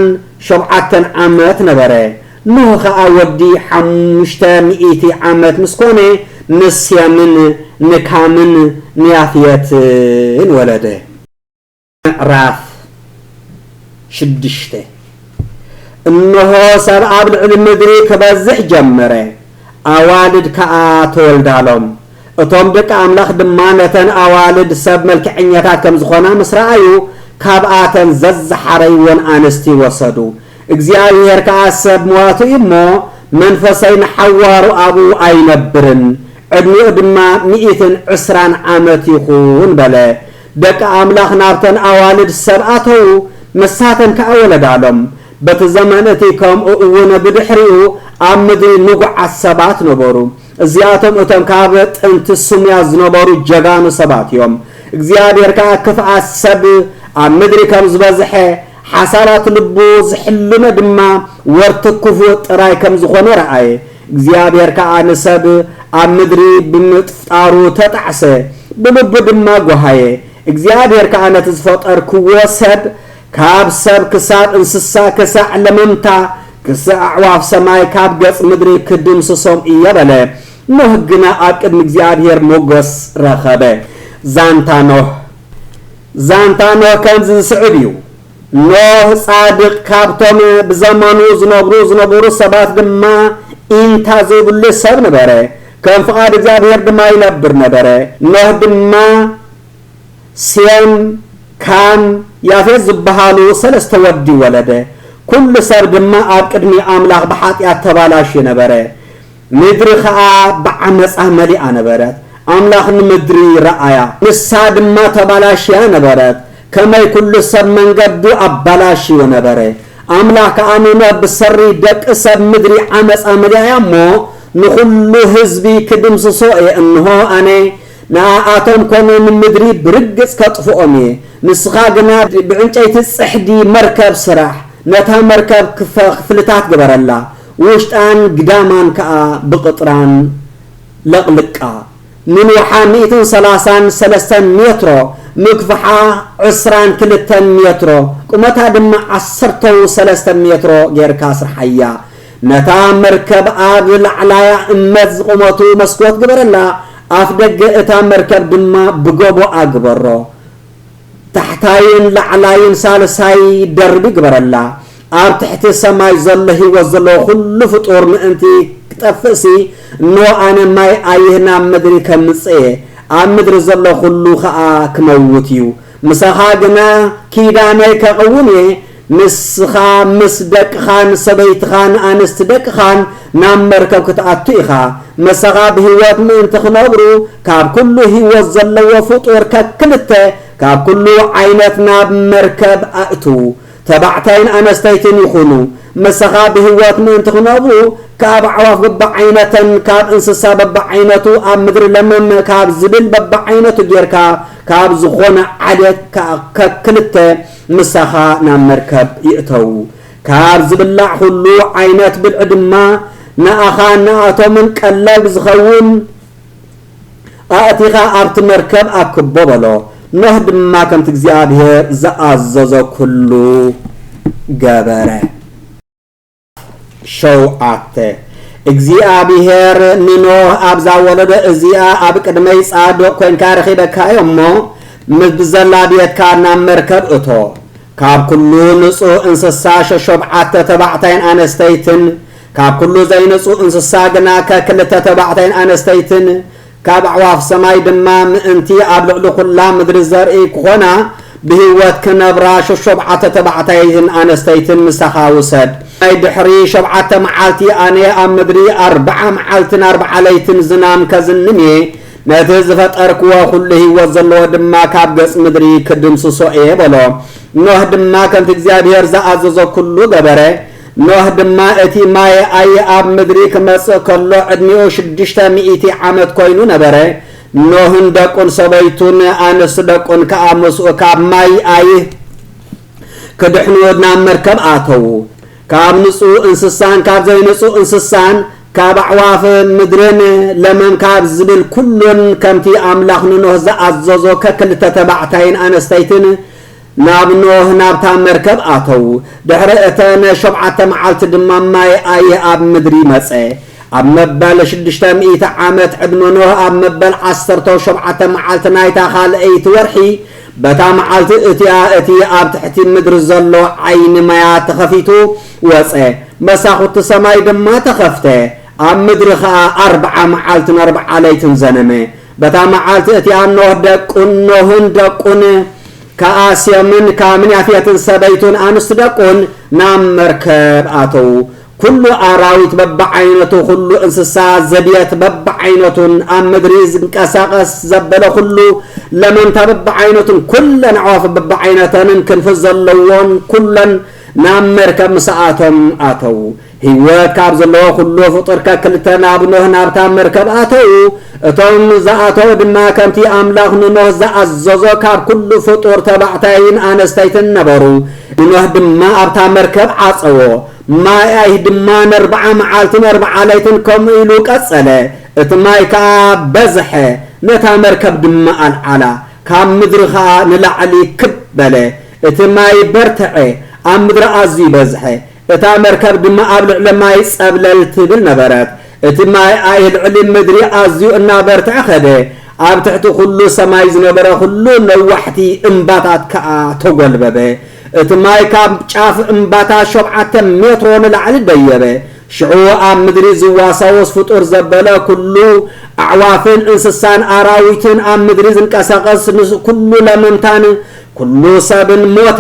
ሾብዓተን ዓመት ነበረ። ኖህ ኸኣ ወዲ ሓሙሽተ ሚእቲ ዓመት ምስ ኰነ፣ ንሴምን ንካምን ንያፍየትን ወለደ። ምዕራፍ ሽዱሽተ እንሆ ሰብ ኣብ ልዕሊ ምድሪ ክበዝሕ ጀመረ፣ ኣዋልድ ከኣ ተወልዳሎም። እቶም ደቂ ኣምላኽ ድማ ነተን ኣዋልድ ሰብ መልክዐኛታት ከም ዝኾና ምስ ረኣዩ፣ ካብኣተን ዘዝሓረይወን ኣንስቲ ወሰዱ። እግዚኣብሄር ከኣ ሰብ ሞቱ እዩ እሞ፣ መንፈሰይ ንሓዋሩ ኣብኡ ኣይነብርን፣ ዕድሚኡ ድማ ሚእትን ዕስራን ዓመት ይኹን በለ። ደቂ ኣምላኽ ናብተን ኣዋልድ ሰብ ኣተዉ፣ ንሳተን ከኣ ወለዳሎም። በቲ ዘመን እቲ ከምኡ እውን ብድሕሪኡ ኣብ ምድሪ ንጉዓት ሰባት ነበሩ። እዚኣቶም እቶም ካብ ጥንቲ ስሙያት ዝነበሩ ጀጋኑ ሰባት እዮም። እግዚኣብሄር ከኣ ክፍኣት ሰብ ኣብ ምድሪ ከም ዝበዝሐ፣ ሓሳባት ልቡ ዝሕልኖ ድማ ወርቲ ክፉእ ጥራይ ከም ዝኾነ ረኣየ። እግዚኣብሔር ከኣ ንሰብ ኣብ ምድሪ ብምፍጣሩ ተጣዕሰ፣ ብልቡ ድማ ጐሃየ። እግዚኣብሔር ከኣ ነቲ ዝፈጠርክዎ ሰብ፣ ካብ ሰብ ክሳብ እንስሳ ክሳዕ ለመምታ ክሳዕ ኣዕዋፍ ሰማይ ካብ ገጽ ምድሪ ክድምስሶም እየ በለ። ኖህ ግና ኣብ ቅድሚ እግዚኣብሔር ሞገስ ረኸበ። ዛንታ ኖህ ዛንታ ኖህ ከምዚ ዝስዕብ እዩ። ኖህ ጻድቕ ካብቶም ብዘመኑ ዝነብሩ ዝነበሩ ሰባት ድማ ኢንታ ዘይብሉ ሰብ ነበረ፣ ከም ፍቓድ እግዚኣብሄር ድማ ይነብር ነበረ። ኖህ ድማ ሴም፣ ካም፣ ያፌት ዝበሃሉ ሰለስተ ወዲ ወለደ። ኩሉ ሰብ ድማ ኣብ ቅድሚ ኣምላኽ ብሓጢኣት ተባላሽዩ ነበረ። ምድሪ ኸኣ ብዓመጻ መሊኣ ነበረት፣ ኣምላኽ ንምድሪ ረኣያ፣ ንሳ ድማ ተባላሽያ ነበረት፣ ከመይ ኵሉ ሰብ መንገዱ ኣባላሽዩ ነበረ። ኣምላኽ ከኣ ንኖህ ብሰሪ ደቂ ሰብ ምድሪ ዓመጻ መሊኣ እያ እሞ፣ ንዅሉ ህዝቢ ክድምስሶ እየ፣ እንሆ፣ ኣነ ንኣኣቶም ኰነ ንምድሪ ብርግጽ ከጥፍኦም እየ፣ ንስኻ ግና ብዕንጨይቲ ጽሕዲ መርከብ ስራሕ፣ ነታ መርከብ ክፍልታት ግበረላ፣ ውሽጣን ግዳማን ከኣ ብቕጥራን ለቕልቃ። ምንውሓ ሚእትን ሰላሳን ሰለስተን ሜትሮ፣ ምግፍሓ ዕስራን ክልተን ሜትሮ፣ ቁመታ ድማ ዓሰርተው ሰለስተን ሜትሮ ጌርካ ስርሓያ። ነታ መርከብ ኣብ ላዕላያ እመት ዝቑመቱ መስኮት ግበረላ፣ ኣፍደገ እታ መርከብ ድማ ብጎቦኣ ግበሮ። ታሕታይን ላዕላይን ሳልሳይ ደርቢ ይግበረላ። ኣብ ትሕቲ ሰማይ ዘሎ ህይወት ዘለዎ ኩሉ ፍጡር ምእንቲ ክጠፍእሲ፣ እንሆ ኣነ ማይ ኣይህ ናብ ምድሪ ከምጽእ እየ፣ ኣብ ምድሪ ዘሎ ኩሉ ከኣ ክመውት እዩ። ምሳኻ ግና ኪዳነይ ከቕውም እየ፣ ንስኻ ምስ ደቅኻን ሰበይትኻን ኣንስቲ ደቅኻን ናብ መርከብ ክትኣቱ ኢኻ። ምሳኻ ብህይወት ምእንቲ ክነብሩ፣ ካብ ኩሉ ህይወት ዘለዎ ፍጡር ከክልተ ካብ ኩሉ ዓይነት ናብ መርከብ ኣእትው። ተባዕታይን ኣነስተይትን ይኹኑ። ምሳኻ ብህይወት ምእንቲ ክነብሩ፣ ካብ ኣዕዋፍ በብዓይነተን፣ ካብ እንስሳ በብዓይነቱ፣ ኣብ ምድሪ ለመም ካብ ዝብል በብዓይነቱ ጌርካ፣ ካብ ዝኾነ ዓሌት ከክልተ፣ ምሳኻ ናብ መርከብ ይእተዉ። ካብ ዝብላዕ ዅሉ ዓይነት ብልዒ ድማ ንኣኻን ንኣቶምን ቀለብ ዚኸውን ኣእቲኻ ኣብቲ መርከብ ኣክቦ በሎ። ኖህ ድማ ከምቲ እግዚኣብሄር ዝኣዘዞ ኵሉ ገበረ። ሸውዓተ፣ እግዚኣብሄር ንኖህ ኣብዛ ወለዶ እዚኣ ኣብ ቅድመይ ጻድቕ ኰንካ ረኺበካዮ እሞ፣ ምስ ብዘላ ቤትካ ናብ መርከብ እቶ። ካብ ኵሉ ንጹህ እንስሳ ሸሾብዓተ ተባዕታይን ኣነስተይትን፣ ካብ ኵሉ ዘይንጹህ እንስሳ ግና ከክልተ ተባዕታይን ኣነስተይትን፣ ካብ ኣዕዋፍ ሰማይ ድማ ምእንቲ ኣብ ልዕሊ ዅላ ምድሪ ዘርኢ ክዀና፣ ብህይወት ክነብራ ሸሾብዓተ ተባዕታይን ኣነስተይትን ምሳኻ ውሰድ። ናይ ድሕሪ ሸብዓተ መዓልቲ ኣነ ኣብ ምድሪ ኣርብዓ መዓልትን ኣርብዓ ለይትን ዝናም ከዝንም እየ፣ ነቲ ዝፈጠርክዎ ዅሉ ህይወት ዘለዎ ድማ ካብ ገጽ ምድሪ ክድምስሶ እየ በሎ። ኖህ ድማ ከምቲ እግዚኣብሄር ዝኣዘዞ ኵሉ ገበረ። ኖህ ድማ እቲ ማየ ኣየ ኣብ ምድሪ ክመጽእ ከሎ ዕድሚኡ ሽዱሽተ ሚእቲ ዓመት ኮይኑ ነበረ፣ ኖህን ደቁን ሰበይቱን ኣንስት ደቁን ከኣ ምስኡ ካብ ማይ ኣይህ ክድሕኑ ናብ መርከብ ኣተዉ። ካብ ንጹህ እንስሳን ካብ ዘይንጹህ እንስሳን ካብ ኣዕዋፍ ምድርን ለመም ካብ ዝብል ኩሉን ከምቲ ኣምላኽ ንኖህ ዝኣዘዞ ከክልተ ተባዕታይን ኣነስተይትን ናብ ኖህ ናብታ መርከብ ኣተዉ፣ ድሕሪ እተን ሾብዓተ መዓልቲ ድማ ማይ ኣየ ኣብ ምድሪ መጸ። ኣብ መበል ሽዱሽተ ሚእቲ ዓመት ዕድመ ኖህ፣ ኣብ መበል ዓሰርተው ሾብዓተ መዓልቲ ናይታ ኻልኣይቲ ወርሒ፣ በታ መዓልቲ እቲኣ እቲ ኣብ ትሕቲ ምድሪ ዘሎ ዓይኒ ማያት ተኸፊቱ ወጸ፣ መሳኹቲ ሰማይ ድማ ተኸፍተ፣ ኣብ ምድሪ ኸኣ ኣርብዓ መዓልትን ኣርብዓ ለይትን ዘነመ። በታ መዓልቲ እቲኣ ኖህ፣ ደቁን ኖህን ደቁን ከኣ ሴምን ካምን ያፌትን ሰበይቱን ኣንስቲ ደቁን ናብ መርከብ ኣተዉ። ኵሉ ኣራዊት በብዓይነቱ፣ ኵሉ እንስሳ ዘቤት በብዓይነቱን፣ ኣብ ምድሪ ዝንቀሳቐስ ዘበለ ኵሉ፣ ለመምታ በብዓይነቱን፣ ኵለን ኣዕዋፍ በብዓይነተንን ክንፊ ዘለዎን ኵለን ናብ መርከብ ምስ ኣቶም ኣተዉ። ህይወት ካብ ዘለዎ ኩሉ ፍጡር ከክልተ ናብ ኖህ ናብታ መርከብ ኣተዉ። እቶም ዝኣተዉ ድማ ከምቲ ኣምላኽ ንኖህ ዝኣዘዞ ካብ ኩሉ ፍጡር ተባዕታይን ኣነስተይትን ነበሩ። ንኖህ ድማ ኣብታ መርከብ ዓጸዎ። ማይ ኣይህ ድማ ነርብዓ መዓልትን ኣርብዓ ለይትን ከምኡ ኢሉ ቀጸለ። እቲ ማይ ከኣ በዝሐ፣ ነታ መርከብ ድማ ኣልዓላ፣ ካብ ምድሪ ኸኣ ንላዕሊ ክብ በለ። እቲ ማይ በርትዐ፣ ኣብ ምድሪ ኣዝዩ በዝሐ። እታ መርከብ ድማ ኣብ ልዕሊ ማይ ጸብለል ትብል ነበረት። እቲ ማይ ኣይ ልዕሊ ምድሪ ኣዝዩ እናበርትዐ ከደ፣ ኣብ ትሕቲ ዅሉ ሰማይ ዝነበረ ዅሉ ነዋሕቲ እምባታት ከኣ ተጐልበበ። እቲ ማይ ካብ ጫፍ እምባታት ሾብዓተ ሜትሮ ንላዕሊ ደየበ። ሽዑ ኣብ ምድሪ ዝዋሳወስ ፍጡር ዘበለ ኵሉ፣ ኣዕዋፍን እንስሳን ኣራዊትን፣ ኣብ ምድሪ ዝንቀሳቐስ ኵሉ ለመምታን ኵሉ ሰብን ሞተ፣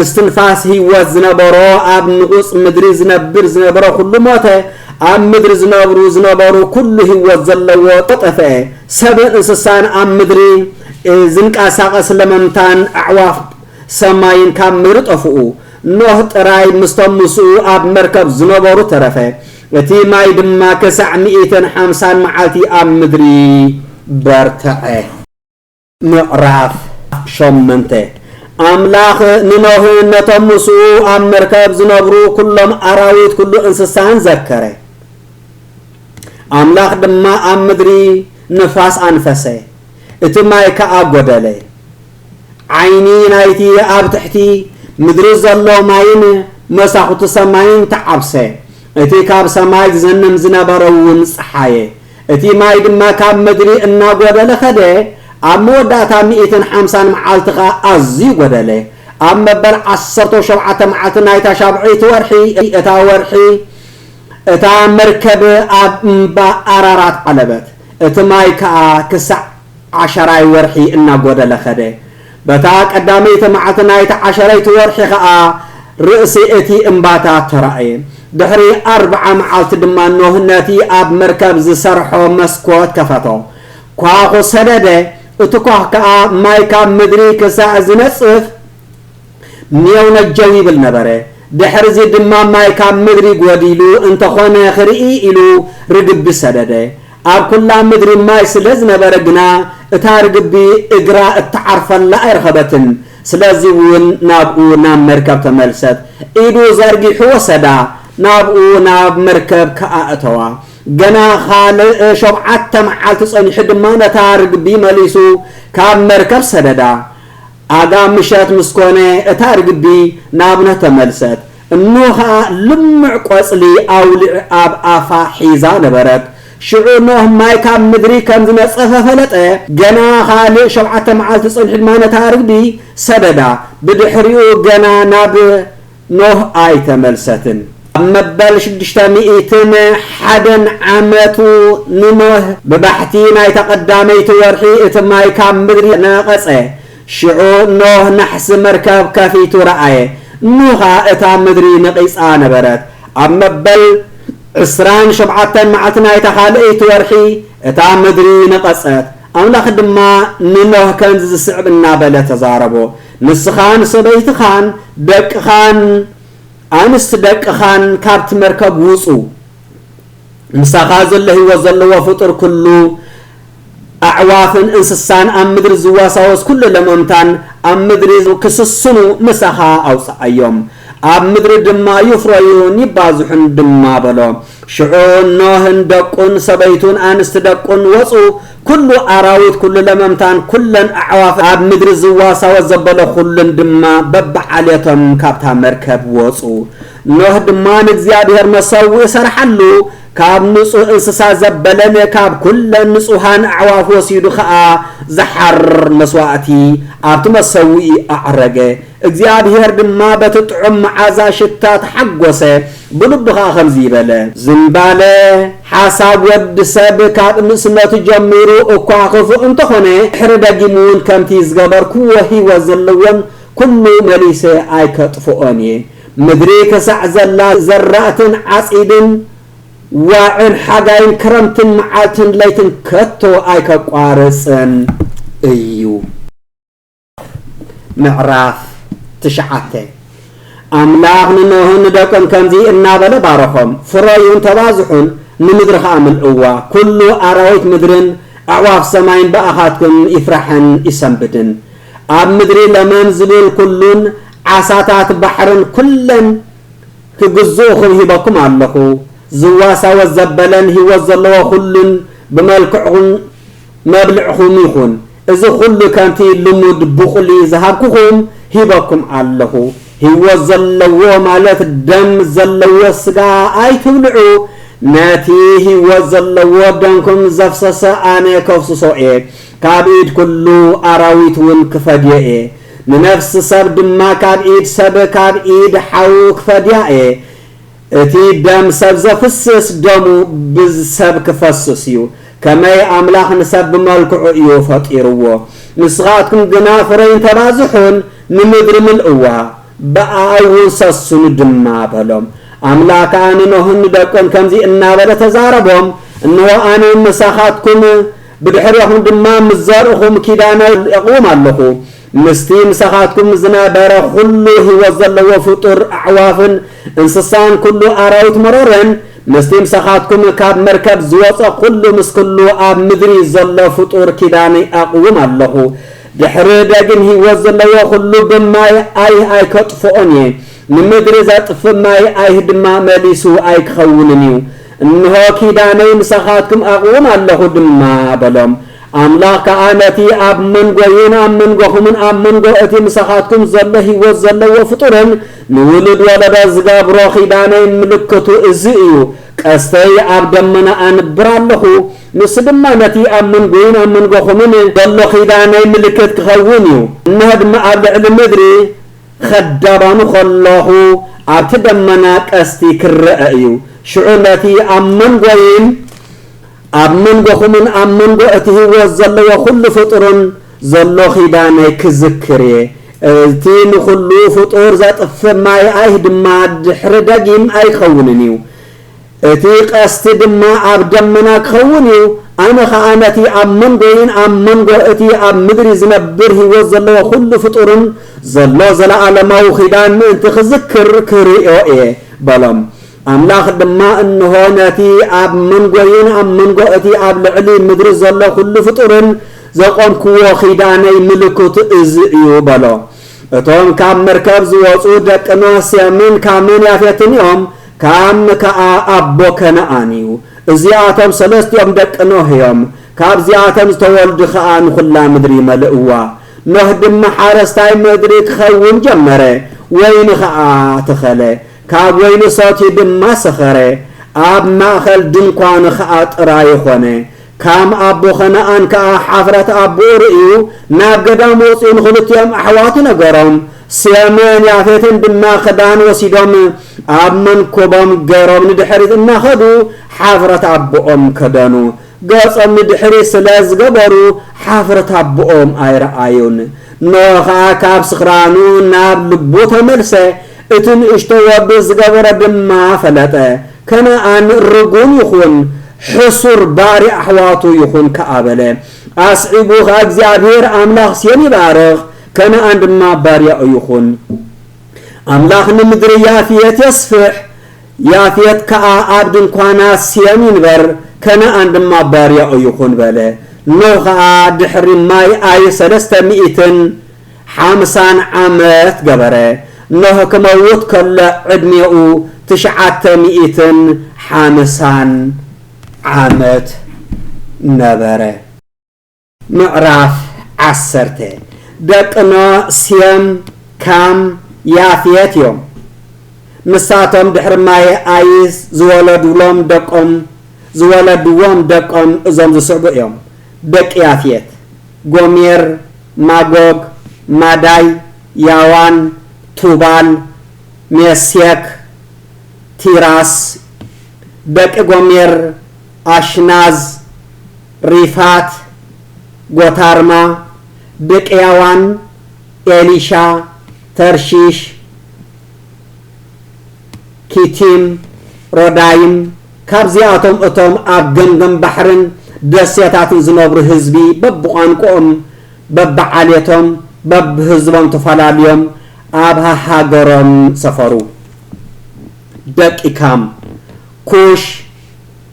እስትንፋስ ህይወት ዝነበሮ ኣብ ንቑጽ ምድሪ ዝነብር ዝነበረ ዅሉ ሞተ፣ ኣብ ምድሪ ዝነብሩ ዝነበሩ ኵሉ ህይወት ዘለዎ ጠጠፍኤ፣ ሰብን እንስሳን ኣብ ምድሪ ዝንቀሳቐስ ለመምታን ኣዕዋፍ ሰማይን ካብ ምድሪ ጠፍኡ፣ ኖህ ጥራይ ምስቶም ምስኡ ኣብ መርከብ ዝነበሩ ተረፈ፣ እቲ ማይ ድማ ክሳዕ ሚእትን ሓምሳን መዓልቲ ኣብ ምድሪ በርትዐ። ምዕራፍ ሾመንተ፣ ኣምላኽ ንኖህን ነቶም ምስኡ ኣብ መርከብ ዝነብሩ ኵሎም ኣራዊት ኵሉ እንስሳን ዘከረ። ኣምላኽ ድማ ኣብ ምድሪ ንፋስ ኣንፈሰ፣ እቲ ማይ ከኣ ጐደለ። ዓይኒ ናይቲ ኣብ ትሕቲ ምድሪ ዘሎ ማይን መሳዅቲ ሰማይን ተዓብሰ፣ እቲ ካብ ሰማይ ዝዘንም ዝነበረውን ጸሓየ። እቲ ማይ ድማ ካብ ምድሪ እናጐደለ ኸደ፣ ኣብ መወዳእታ ሚእትን ሓምሳን መዓልቲ ኸኣ ኣዝዩ ጐደለ። ኣብ መበል ዓሰርተው ሸውዓተ መዓልቲ ናይታ ሻብዐይቲ ወርሒ፣ እታ ወርሒ፣ እታ መርከብ ኣብ እምባ ኣራራት ዓለበት፣ እቲ ማይ ከኣ ክሳዕ ዓሸራይ ወርሒ እናጐደለ ኸደ። በታ ቀዳመይቲ መዓልቲ ናይቲ ዓሸረይቲ ወርሒ ኸኣ ርእሲ እቲ እምባታት ተራእየ። ድሕሪ ኣርብዓ መዓልቲ ድማ ኖህ ነቲ ኣብ መርከብ ዝሰርሖ መስኮት ከፈቶ። ኳዅ ሰደደ፣ እቲ ኳዅ ከኣ ማይ ካብ ምድሪ ክሳዕ ዝነጽፍ፣ ኔውነጀው ይብል ነበረ። ድሕርዚ ድማ ማይ ካብ ምድሪ ጎዲሉ እንተኾነ ክርኢ ኢሉ ርግቢ ሰደደ። ኣብ ኩላ ምድሪ ማይ ስለ ዝነበረ ግና እታ ርግቢ እግራ እትዓርፈላ ኣይረኸበትን። ስለዚ እውን ናብኡ ናብ መርከብ ተመልሰት። ኢዱ ዘርጊሑ ወሰዳ፣ ናብኡ ናብ መርከብ ከኣ እተዋ። ገና ኻልእ ሾብዓተ መዓልቲ ጸኒሑ ድማ ነታ ርግቢ መሊሱ ካብ መርከብ ሰደዳ። ኣጋ ምሸት ምስ ኮነ እታ ርግቢ ናብ ን ተመልሰት። እኖ ከኣ ልሙዕ ቆጽሊ ኣውሊዕ ኣብ ኣፋ ሒዛ ነበረት። ሽዑ ኖህ ማይ ካብ ምድሪ ከም ዝነጸፈ ፈለጠ። ገና ካልእ ሸውዓተ መዓልቲ ጸኒሑ ድማ ነታ ርግቢ ሰደዳ። ብድሕሪኡ ገና ናብ። ኖህ ኣይተመልሰትን። ኣብ መበል ሽዱሽተ ሚእትን ሓደን ዓመቱ ንኖህ ብባሕቲ ናይታ ቀዳመይቲ ወርሒ እቲ ማይ ካብ ምድሪ ነቐጸ። ሽዑ ኖህ ናሕሲ መርከብ ከፊቱ ረኣየ፣ እሞ ኸኣ እታ ምድሪ ነቒጻ ነበረት። ኣብ መበል ዕስራን ሸውዓተን መዓልቲ ናይታ ኻልኣይቲ ወርሒ እታ ምድሪ ነቐጸት። ኣምላኽ ድማ ንኖህ ከምዚ ዝስዕብ እናበለ ተዛረቦ። ንስኻን ሰበይትኻን ደቅኻን ኣንስቲ ደቅኻን ካብቲ መርከብ ውጹ። ምሳኻ ዘሎ ህይወት ዘለዎ ፍጡር ኩሉ፣ ኣዕዋፍን እንስሳን ኣብ ምድሪ ዝዋሳወስ ኩሉ ለመምታን ኣብ ምድሪ ክስስኑ ምሳኻ ኣውጽኣዮም። ኣብ ምድሪ ድማ ይፍረዩን ይባዝሑን ድማ በሎ። ሽዑ ኖህን ደቁን ሰበይቱን ኣንስቲ ደቁን ወጹ፣ ኵሉ ኣራዊት፣ ኵሉ ለመምታን ኵለን ኣዕዋፍ ኣብ ምድሪ ዝዋሳወ ዘበለ ዅሉን ድማ በብዓሌቶም ካብታ መርከብ ወጹ። ኖህ ድማ ንእግዚኣብሄር መሰውኢ ሰርሓሉ፣ ካብ ንጹህ እንስሳ ዘበለን ካብ ኵለን ንጹሃን ኣዕዋፍ ወሲዱ ኸኣ ዝሓርር መስዋእቲ ኣብቲ መሰውኢ ኣዕረገ። እግዚኣብሄር ድማ በቲ ጥዑም መዓዛ ሽታ ተሓጐሰ፣ ብልቡ ኸኣ ከምዚ በለ። ዝምባለ ሓሳብ ወዲ ሰብ ካብ ንእስነቱ ጀሚሩ እኳ ኽፉእ እንተ ዀነ፣ ድሕሪ ደጊምውን ከምቲ ዝገበርክዎ ህይወት ዘለዎን ኵሉ መሊሰ ኣይከጥፍኦን እየ። ምድሪ ኽሳዕ ዘላ፣ ዘራእትን ዓጺድን፣ ዋዕን ሓጋይን ክረምትን፣ መዓልትን ለይትን ከቶ ኣይከቋርጽን እዩ። ምዕራፍ ትሽዓተ ኣምላኽ ንኖህን ንደቁን ከምዚ እናበለ ባረኾም፣ ፍረዩን ተባዝሑን፣ ንምድሪ ኸኣ ምልእዋ፣ ኵሉ ኣራዊት ምድርን ኣዕዋፍ ሰማይን ብኣኻትኩም ይፍራሕን ይሰንብድን። ኣብ ምድሪ ለመም ዚብል ኵሉን ዓሳታት ባሕርን ኵለን ኪግዝኡኹም ሂበኩም ኣለኹ። ዚዋሳወስ ዘበለን ህይወት ዘለዎ ዅሉን ብመልክዑን መብልዕኹም ይኹን፣ እዚ ኹሉ ከምቲ ልሙድ ብቑሊ ዝሃብኩኹም ሂበኩም ኣለኹ፣ ህይወት ዘለዎ ማለት ደም ዘለዎ ስጋ ኣይትብልዑ፣ ነቲ ህይወት ዘለዎ ደምኩም ዘፍሰሰ ኣነ ከፍስሶ እየ፣ ካብ ኢድ ኵሉ ኣራዊትውን ክፈድዮ እየ፣ ንነፍሲ ሰብ ድማ ካብ ኢድ ሰብ ካብ ኢድ ሓዉ ክፈድያ እየ፣ እቲ ደም ሰብ ዘፍስስ ደሙ ብሰብ ክፈስስ እዩ ከመይ ኣምላኽ ንሰብ ብመልክዑ እዩ ፈጢርዎ ንስኻትኩም ግና ፍረይን ተባዝሑን ንምድሪ ምልእዋ ብኣኣ እውን ሰስኑ ድማ በሎም ኣምላኽ ከኣ ንኖህን ንደቁን ከምዚ እናበለ ተዛረቦም እንሆ ኣነ ምሳኻትኩም ብድሕሬኹም ድማ ምስ ዘርእኹም ኪዳነይ የቕውም ኣለኹ ምስቲ ምሳኻትኩም ዝነበረ ዅሉ ህይወት ዘለዎ ፍጡር፣ ኣዕዋፍን እንስሳን ኵሉ ኣራዊት መሮርን፣ ምስቲ ምሳኻትኩም ካብ መርከብ ዝወጸ ዅሉ፣ ምስ ኵሉ ኣብ ምድሪ ዘሎ ፍጡር ኪዳነይ ኣቕውም ኣሎኹ። ድሕሪ ደጊም ህይወት ዘለዎ ዅሉ ብማይ ኣይህ ኣይከጥፍኦን እየ፣ ንምድሪ ዘጥፍእ ማይ ኣይህ ድማ መሊሱ ኣይኪኸውንን እዩ። እንሆ፣ ኪዳነይ ምሳኻትኩም ኣቕውም ኣሎኹ ድማ በሎም። ኣምላኽ ከኣ ነቲ ኣብ መንጎይን ኣብ መንጎኹምን ኣብ መንጎ እቲ ምሳኻትኩም ዘሎ ህይወት ዘለዎ ፍጡርን ንውሉድ ወለዶ ዝገብሮ ኺዳነይ ምልክቱ እዚ እዩ፣ ቀስተይ ኣብ ደመና ኣንብር ኣለኹ፣ ንሱ ድማ ነቲ ኣብ መንጎይን ኣብ መንጎኹምን ዘሎ ኺዳነይ ምልክት ኪኸውን እዩ፣ እንሆ ድማ ኣብ ልዕሊ ምድሪ ኸዳባኑ ኸለኹ ኣብቲ ደመና ቀስቲ ኪረኣ እዩ፣ ሽዑ ነቲ ኣብ መንጎይን ኣብ መንጎኹምን ኣብ መንጎ እቲ ህይወት ዘለዎ ዅሉ ፍጡርን ዘሎ ኺዳነይ ክዝክር እየ፣ እቲ ንዅሉ ፍጡር ዜጥፍእ ማይ ኣይህ ድማ ድሕሪ ደጊም ኣይከውንን እዩ፣ እቲ ቐስቲ ድማ ኣብ ደመና ኪኸውን እዩ፣ ኣነ ኸኣ ነቲ ኣብ መንጎይን ኣብ መንጎ እቲ ኣብ ምድሪ ዚነብር ህይወት ዘለዎ ዅሉ ፍጡርን ዘሎ ዘለኣለማዊ ኺዳን ምእንቲ ኽዝክር ክርእዮ እየ፣ በሎም። ኣምላኽ ድማ እንሆ ነቲ ኣብ መንጎይን ኣብ መንጎ እቲ ኣብ ልዕሊ ምድሪ ዘሎ ዅሉ ፍጡርን ዘቖምክዎ ኺዳነይ ምልክቱ እዚ እዩ በሎ። እቶም ካብ መርከብ ዝወጹ ደቂ ኖህ ሴምን ካምን ያፌትን እዮም፣ ካም ከኣ ኣቦ ከነኣን እዩ። እዚኣቶም ሰለስቲኦም ደቂ ኖህ እዮም፣ ካብዚኣተን ዝተወልዱ ኸኣ ንዅላ ምድሪ መለእዋ። ኖህ ድማ ሓረስታይ ምድሪ ኪኸውን ጀመረ፣ ወይኒ ኸኣ ተኸለ። ካብ ወይኑ ሰትዩ ድማ ሰኸረ፣ ኣብ ማእከል ድንኳኑ ኸኣ ጥራዩ ዀነ። ካም ኣቦ ኸነኣን ከኣ ሓፍረት ኣቦኡ ርእዩ፣ ናብ ገዳም ወጺኡ ንኽልቲኦም ኣሕዋቱ ነገሮም። ሴምን ያፌትን ድማ ኽዳን ወሲዶም ኣብ መንኵቦም ገሮም ንድሕሪት እናኸዱ ሓፍረት ኣቦኦም ከደኑ። ገጾም ንድሕሪት ስለ ዝገበሩ ሓፍረት ኣቦኦም ኣይረኣዩን። ኖህ ኸኣ ካብ ስኽራኑ ናብ ልቡ ተመልሰ፣ እቲ ንእሽቶ ወዱ ዝገበሮ ድማ ፈለጠ። ከነኣን ርጉም ይኹን፣ ሕሱር ባርያ ኣሕዋቱ ይኹን ከኣ በለ። ኣስዒቡ ኸኣ እግዚኣብሄር ኣምላኽ ሴም ይባርኽ፣ ከነኣን ድማ ባርያኡ ይኹን። ኣምላኽ ንምድሪ ያፍየት የስፍሕ። ያፌት ከኣ ኣብ ድንኳና ሴም ይንበር፣ ከነኣን ድማ ባርያኡ ይኹን በለ። ኖህ ኸኣ ድሕሪ ማይ ኣይ ሰለስተ ሚእትን ሓምሳን ዓመት ገበረ። ኖህ ክመውት ከሎ ዕድሜኡ ትሽዓተ ሚእትን ሓምሳን ዓመት ነበረ። ምዕራፍ ዓሰርተ ደቂ ኖህ ሴም፣ ካም፣ ያፌት እዮም። ንሳቶም ድሕሪ ማየ ኣይስ ዝወለዱሎም ደቆም ዝወለድዎም ደቆም እዞም ዝስዕቡ እዮም፣ ደቂ ያፌት፣ ጎሜር፣ ማጎግ፣ ማዳይ፣ ያዋን፣ ቱባል፣ ሜሴክ፣ ቲራስ፣ ደቂ ጎሜር፣ ኣሽናዝ፣ ሪፋት ጎታርማ ብቅያዋን ኤሊሻ ተርሺሽ ኪቲም ሮዳይም ካብዚኣቶም እቶም ኣብ ገምገም ባሕርን ደሴታትን ዝነብሩ ህዝቢ በብቋንቁኦም በብዓሌቶም በብህዝቦም ተፈላልዮም ኣብ ሃሃገሮም ሰፈሩ ደቂ ካም ኩሽ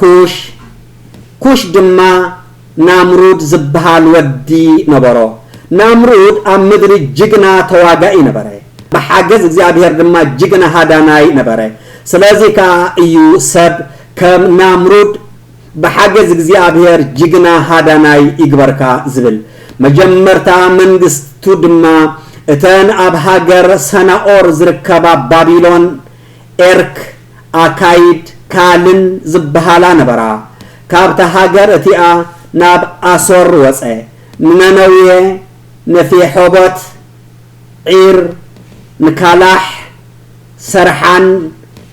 ኩሽ፣ ኩሽ ድማ ናምሩድ ዝብሃል ወዲ ነበሮ። ናምሩድ ኣብ ምድሪ ጅግና ተዋጋኢ ነበረ፣ ብሓገዝ እግዚኣብሄር ድማ ጅግና ሃዳናይ ነበረ። ስለዚ ከኣ እዩ ሰብ ከም ናምሩድ ብሓገዝ እግዚኣብሄር ጅግና ሃዳናይ ይግበርካ ዝብል። መጀመርታ መንግስቱ ድማ እተን ኣብ ሃገር ሰናኦር ዝርከባ ባቢሎን፣ ኤርክ፣ ኣካይድ ካልን ዝበሃላ ነበራ። ካብታ ሃገር እቲኣ ናብ ኣሶር ወጸ፣ ንነነዌ፣ ንፊሖቦት፣ ዒር፣ ንካላሕ፣ ሰርሓን፣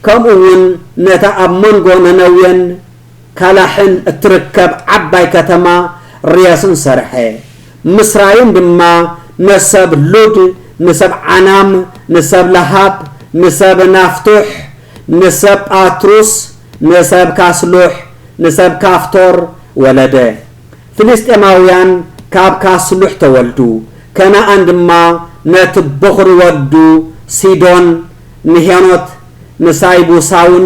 ከምኡውን ነታ ኣብ መንጎ ነነዌን ካላሕን እትርከብ ዓባይ ከተማ ርያስን ሰርሐ። ምስ ራይን ድማ ንሰብ ሉድ፣ ንሰብ ዓናም፣ ንሰብ ለሃብ፣ ንሰብ ናፍቱሕ፣ ንሰብ ጳትሩስ፣ ንሰብ ካስሉሕ፣ ንሰብ ካፍቶር ወለደ። ፍልስጥኤማውያን ካብ ካስሉሕ ተወልዱ፣ ከነኣን ድማ ነቲ በዅሪ ወዱ ሲዶን፣ ንሄኖት፣ ንሳይቡሳውን፣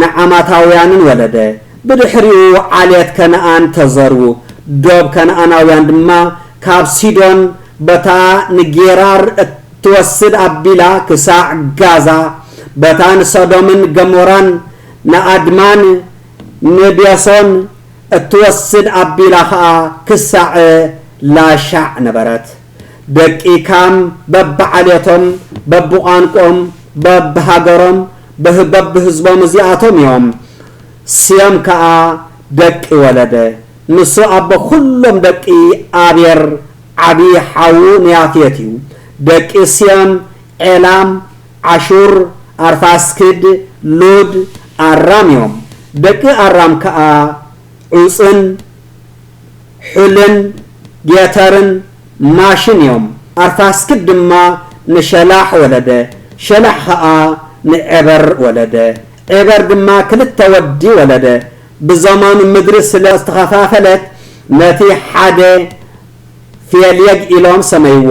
ንዓማታውያንን ወለደ። ብድሕሪኡ ዓሌት ከነኣን ተዘርዉ፣ ዶብ ከነኣናውያን ድማ ካብ ሲዶን በታ ንጌራር እትወስድ ኣቢላ ክሳዕ ጋዛ፣ በታ ንሰዶምን ገሞራን ንኣድማን ንቤሶን እትወስድ ኣቢላ ኸኣ ክሳዕ ላሻዕ ነበረት። ደቂ ካም በብዓሌቶም በብቋንቆም በብሃገሮም በብህዝቦም እዚኣቶም እዮም ስዮም ከኣ ደቂ ወለደ ንሱ ኣቦ ኩሎም ደቂ ኣቤር ዓቢ ሓዉ ንያፌት እዩ ደቂ ስዮም ዔላም ዓሹር ኣርፋስክድ ሉድ ኣራም እዮም ደቂ ኣራም ከኣ ዑጽን ሑልን ጌተርን ማሽን እዮም። ኣርፋስክድ ድማ ንሸላሕ ወለደ፣ ሸላሕ ኸኣ ንዔበር ወለደ፣ ዔበር ድማ ክልተ ወዲ ወለደ። ብዘመኑ ምድሪ ስለ ዝተኸፋፈለት ነቲ ሓደ ፌልየግ ኢሎም ሰመይዎ።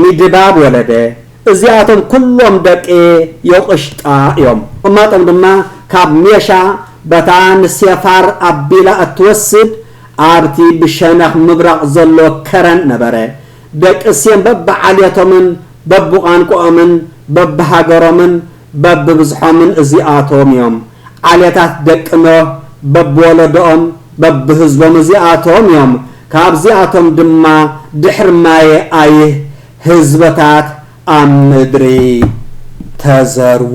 ሚድባብ ወለደ እዚኣቶም ኩሎም ደቂ ዮቅሽጣ እዮም ቅማጦም ድማ ካብ ሜሻ በታ ንሴፋር ኣቢላ እትወስድ ኣብቲ ብሸነኽ ምብራቕ ዘሎ ከረን ነበረ ደቂ ሴም በብዓሌቶምን በብቋንቆኦምን በብሃገሮምን በብብዝሖምን እዚኣቶም እዮም። ዓሌታት ደቂ ኖህ በብወለዶኦም በብህዝቦም እዚኣቶም እዮም። ካብዚኣቶም ድማ ድሕሪ ማየ ኣይህ ህዝብታት ኣብ ምድሪ ተዘርኡ።